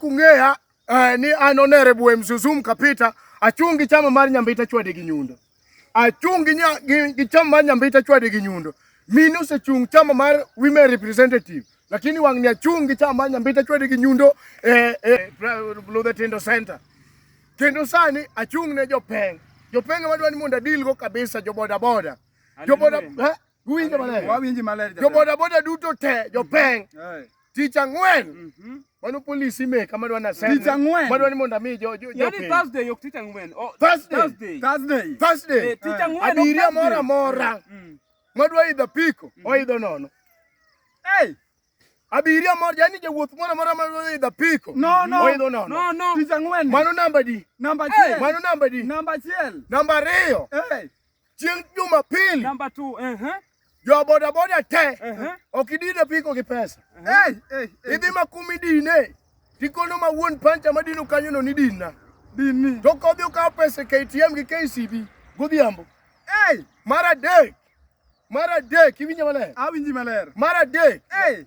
kung'eya eh, ni an onere bwe mzuzum kapita achung' gi chama mar nyambita chwade gi nyundo achung' gi, nya, gi, gi chama mar nyambita chwade gi nyundo mine osechung' chama mar women representative lakini wang'ni achung' gi chama mar nyambita chwade gi nyundo eh, eh, Luther Tindo Center kendo sani achung' ne jopeng jopeng madwa ni mondo adilgo kabisa jobodaboda joboda eh? Uwinjo maler? Wawinji maler. Jo boda boda duto te, jo peng. Tich ang'wen. Mhm. Mano polisi ime kama dwa nasema. Tich ang'wen. Madwa ni mondo ami jo jo. Yaani Thursday yok tich ang'wen. Oh, Thursday. Thursday. Thursday. Thursday. Eh, tich ang'wen. Abiria mora mora. Mm. Madwa idho piko, mm. oidho nono. Hey. Abiria mora yani jawuoth mora mora madwa idho piko. No, no. Oidho nono. No, no. Tich ang'wen. Mano namba di. Namba achiel. Mano namba di. Namba achiel. Namba ariyo. Hey. chieng' Jumapili Number two, uh-huh. jo bodaboda te Uh-huh. ok idine piko gi pesa Hey, hey, hey. idhi ma kuma idine tikono ma wuon pancha madino kanyono ni dinna Dini. to kodhi okawo pesa e KTM gi KCB godhiambo Hey, mar adek mar adek iwinjo maler awinji maler. mar adek Hey,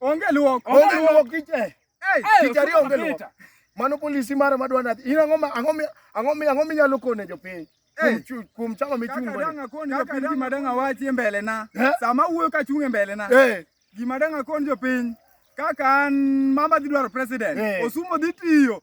Onge luok. Onge luok kiche. Eh. Tich ariyo onge luok. Mano polisi mara madwa nadhi. In ang'o ang'o ang'o ang'o minyalo kone jopiny? Eh. Kuom chama michungo. Kaka danga koni jopiny gima danga wachi e mbele na. Eh. Sama wuoyo ka chung' e mbele na. Gima danga koni jopiny. Kaka an mama dhi dwaro president. Osumo dhi tiyo.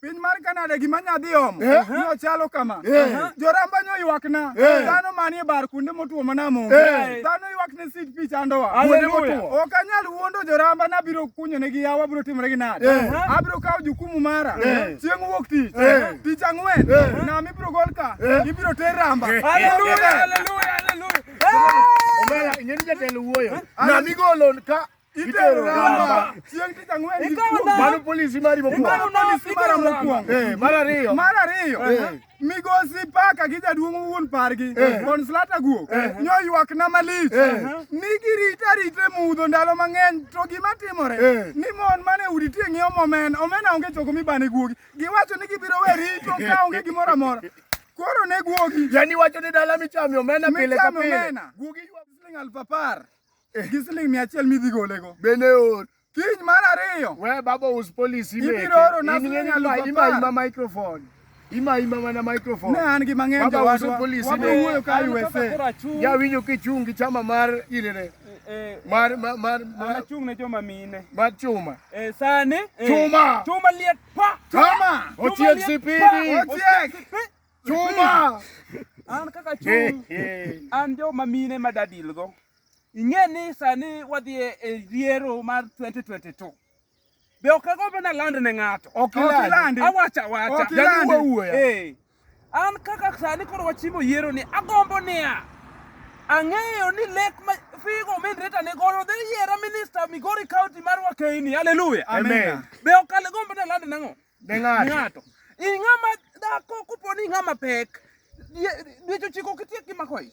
piny mar Kanada gima nya dhi omo eh. ni ochalo kama eh. joramba nyo ywakna eh. dhano manie bar kuonde motwo mana monge dhano ywakne sit pi chandowa kuonde motwo ok anyal wuondo joramba ni abiro kunyonegi yawo abiro timore gi nade abiro kawo jukumu mara chieng' wuok tich tich ang'wen nam ibiro gol ka ibiro ter ramba Hallelujah, hallelujah, hallelujah. Omera, ing'eni jatelo wuoyo. Nam igolo ka itero ramba chieng' tich ang'wen mano polisi mari mokwongo eh, mar ariyo mar ariyo eh. migosi paka gi jaduong' wuon pargi eh. konslata guok nyoywakna malich ni girita rite mudho ndalo mang'eny to gima timore ni mon mane udi tie ng'iewo momen omena onge choko mibane guogi giwacho ni gibiro we rito ka onge gimoro amora koro ne guogi yani wacho ni dala michame omena pile ka pile guogi siling aluf apar eh. gi siling mia achiel midhi golego bende or kiny mar ariyo we baba us polisi ibiro oro na siling alufu apar microphone ima ima mana microphone ne an gi mang'eny baba us polisi ne wuoyo ka USA ya winjo kichung gi chama mar irene eh, mar mar mar mar chung ne joma mine mar chuma eh sani eh, chuma chuma liet pa chuma otiek sipidi otiek chuma an kaka chung an joma mine madadilgo Ing'e ni sani wadhi e, e yiero mar 2022. Be ok agombo na land ne ng'ato. Ok ilandi. Awacha wacha. Ok ilandi. Wuoya. Eh. An kaka sani koro wachimo yiero ni agombo niya. Ang'eyo ni lek ma figo min reta ne goyo dhi yiera minister Migori County mar Wakeini. Hallelujah. Amen. Be ok agombo na land nang'o? Ne ng'ato. Ing'ama dhako kuponi ing'ama pek. Dweche ochiko kitiek gi mako ich.